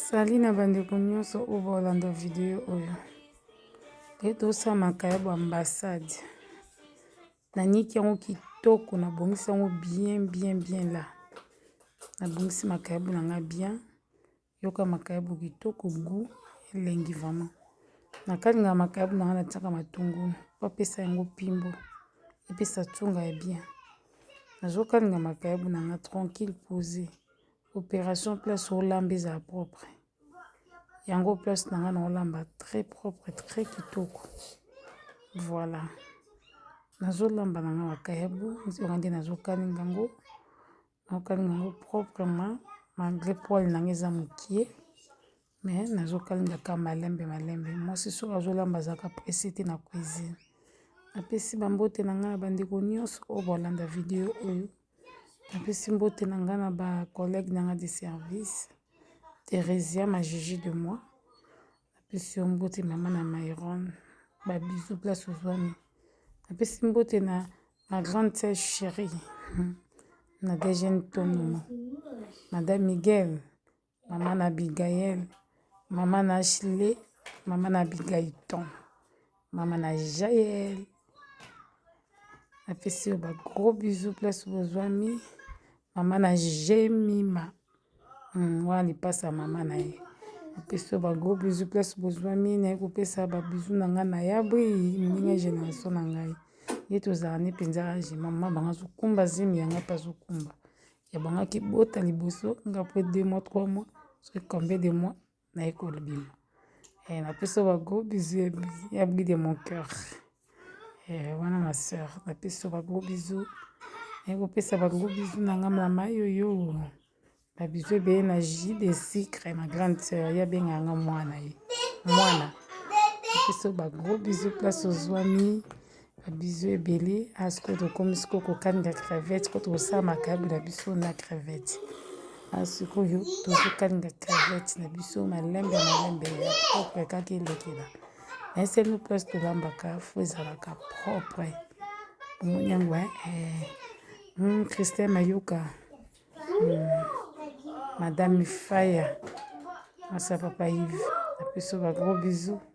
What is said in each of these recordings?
Sali na bandeko nyonso oyo baolanda video oyo te tosala makayabo ambassade naniki yango kitoko nabongisi yango bien bien bien la nabongisi makayabo na ngai bien yoka makayabo kitoko gu elengi vraiment nakalingaka makayabo na ngai natiaka matungulu po apesa yango pimbo epesa ntunga ya bien nazokalinga makayabo na ngai tranquille pose Operation place olamba ezala propre. Yango place na nga na olamba très propre très kitoko. Voilà. Nazolamba na nga makayabu nzonga nde nazokalinga yango naokalinga yango proprement malgré poil na nga eza mokie Mais nazo kalinga ka malembe malembe mwasi soki azo lamba azalaka presse te na cuisine napesi ba mbote na ngai na ba ndeko nionso oyo bazo landa video oyo napesi mbote na ngai na ba collègue na ngai de service Theresia ma Gigi de moi napesi yo mbote mama na Myron ba bisous place ozwami napesi mbote na ma grande sœur cherie Nadège Ntonoma madame Miguel Mama na Abigail, mama na Ashley, mama na Abigailton, mama na Jael. Napesi yo ba gros bisous place bozwami. Mama na Jemima. Hmm, wana lipasa ya mama na ye. Napesi yo ba gros bisous place bozwami. Naye kopesa ba bisous na ngai na yabri ndenge generation na ngai. Ye tozala ne mpenza age mama bango azokumba zemi ya ngai mpe azokumba. ya banga kibota liboso nga mpe de mwa trois mois soki combien de mois naye kolobima eh, napesa ba gros bisous ya bri de mon cœur eh, wana ma sœur napesa ba gros bisous naye kopesa ba gros bisous na nga mama yoyo ba bisous ebele na jus de sucre ma grande sœur ya benga nga mwana ye mwana napesa ba gros bisous place ozwami Ba bisous ebele awa sikoyo tokomi sikoyo kokalinga crevette sikoyo tokosala makayabu na biso na crevette awa sikoyo tozokalinga crevette na biso malembe malembe ya propre kaka elekela na eselu place tolambaka fo ezalaka propre omoni yango eh, eh. Hmm, christin mayoka hmm. madame faya masa papa ive na biso bagros bisous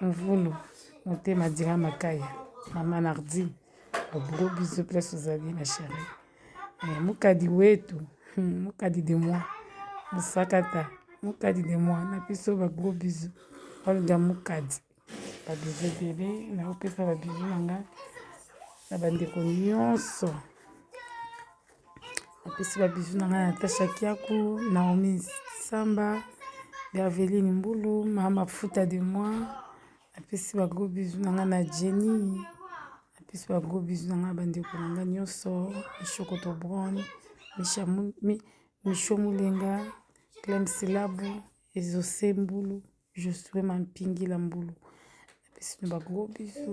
mvulu motema dira makaya mama nardine obro biso place ozali ma chérie eh, mukadi wetu hmm, mukadi de moi musakata mukadi de moi na biso ba gros bisous olga mukadi ba bisous ebele naopesa ba bisous na ngai na bandeko nyonso napesi ba bisous na ngai Natasha Kiaku, Naomi Samba, Berveline Mbulu, Mama Futa de moi. Napesi ba gros bisous na ngai na Jenny. Napesi ba gros bisous na ngai bandeko na ngai nyonso, Mishokoto Brown, Misha Misho Mulenga, Clem Silabu, Ezose mbulu Josue Mampingila mbulu napesi no bagro biso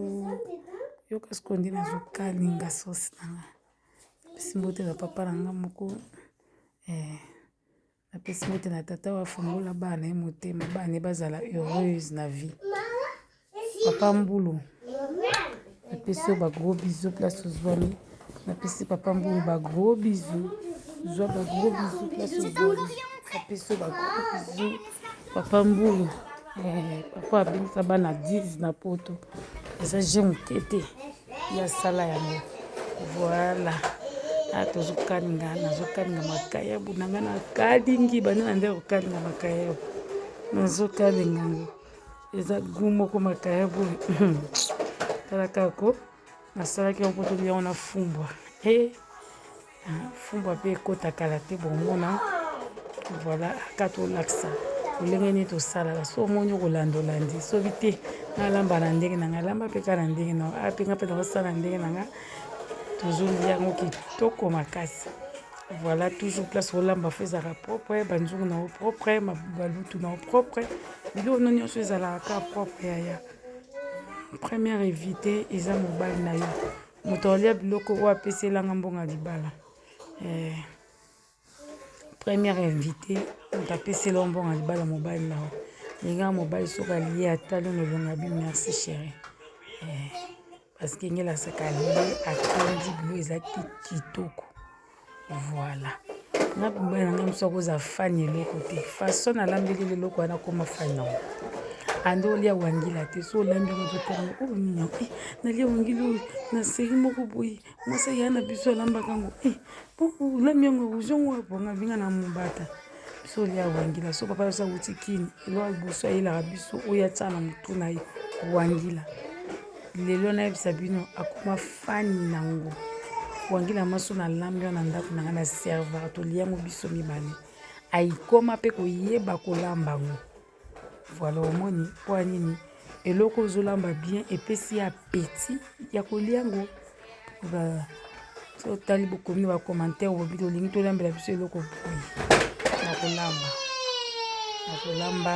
yoka sikoyo nde nazokalinga sosi na nga napesi mbote na papa na nga moko eh, napesi mbote na tata oyo afungola bana ye motema bana ye bazala heureuse na vie papa mbulu napesi yo bagros bizu place ozwami napesi papa mbulu bagros bizu zwa bagros bizu place ozwami napesi yo bagros bizu papa mbulu eh, papa abengisa bana 10 na poto eza je moke te ya sala yango voilà ah, tozokalinga nazokalinga makayabu na ngai nakalingi banda na nde kokalinga makayabu nazokalinga yango eza gu moko makaya boye tala kaka ko nasalaki yango mpo tolia yango na fumbwa e eh, ah, fumbwa mpe ekota kala te bomona voilà aka tolakisa lolenge nini tosalaka so omoni okolanda olandi soki te nalamba na ndenge na ngai alamba mpe kaka na ndenge na apenga mpe nakosala na ndenge na ngai tozolia yango kitoko makasi Voilà, toujours place olamba fo ezalaka propre, banzungu na yo propre, balutu na yo propre, biloko no nyonso ezalaka kaka propre yaya. Première évité eza mobali na yo, moto alia biloko oyo apesi elanga mbongo libala. Eh, première invité moto apesi elanga mbongo libala mobali na yo. Lingaka mobali soki alie atali nolonga bi merci chérie. Eh. parce que ngela saka ye atondi bilo eza kitoko voilà nga mobali na nga mosu akoza fani eloko te façon nalambeli leloko wana akoma fani yango ande olia wangila te so olambi yango totanga oyo nini yango eh, nalia wangila oyo na seri moko boye mwasi aya na biso alambaka yango eh, olambi yango ozongo wapo nga vinga na mobata biso olia wangila so papa yoso awuti kini elo aliboso ayelaka biso oyo atya na motu na ye wangila lelo nayebisa bino akoma fani na ngo wangila maso na lambi wana ndako na ngai na servaka tolia yango biso mibale ayikoma mpe koyeba kolamba ngo Voilà omoni mpo nini eloko ozolamba bien epesi ya apeti ya kolia yango otali bokomi na bacommentaire obobi tolingi tolambela biso eloko boye na kolamba na kolamba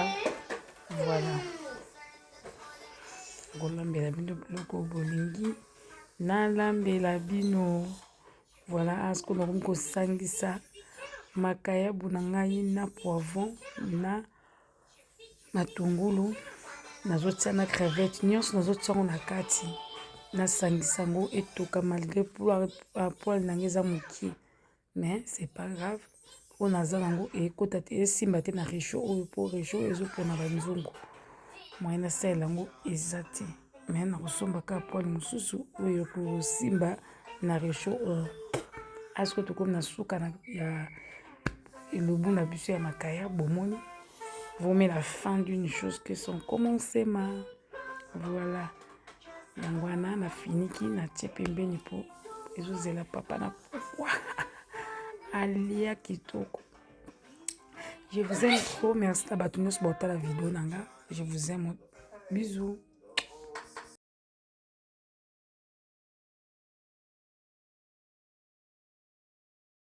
voilà kolambela bino biloko bolingi nalambela bino Voilà, asko nakomi kosangisa makayabu na ngai na poivron na matungulu nazotia na crevette nyonso nazotia yango na kati nasangisa yango etoka malgré poil na ngai eza moke mais c'est pas grave oyo naza nango ekota te esimba te na regio oyo mpo regio oyo ezopona banzungu moyen nasalela yango eza te me nakosomba ka poile mosusu oyo ekosimba na regio oyo asko tokomi na suka ya elobu na biso ya makaya bomoni vomela fin d'une chose que son commencement voilà yango wana nafiniki natie pembeni mpo ezozela papa na pokwa alia kitoko je vous aime trop merci na bato nyonso baotala video na nga je vous aime bisous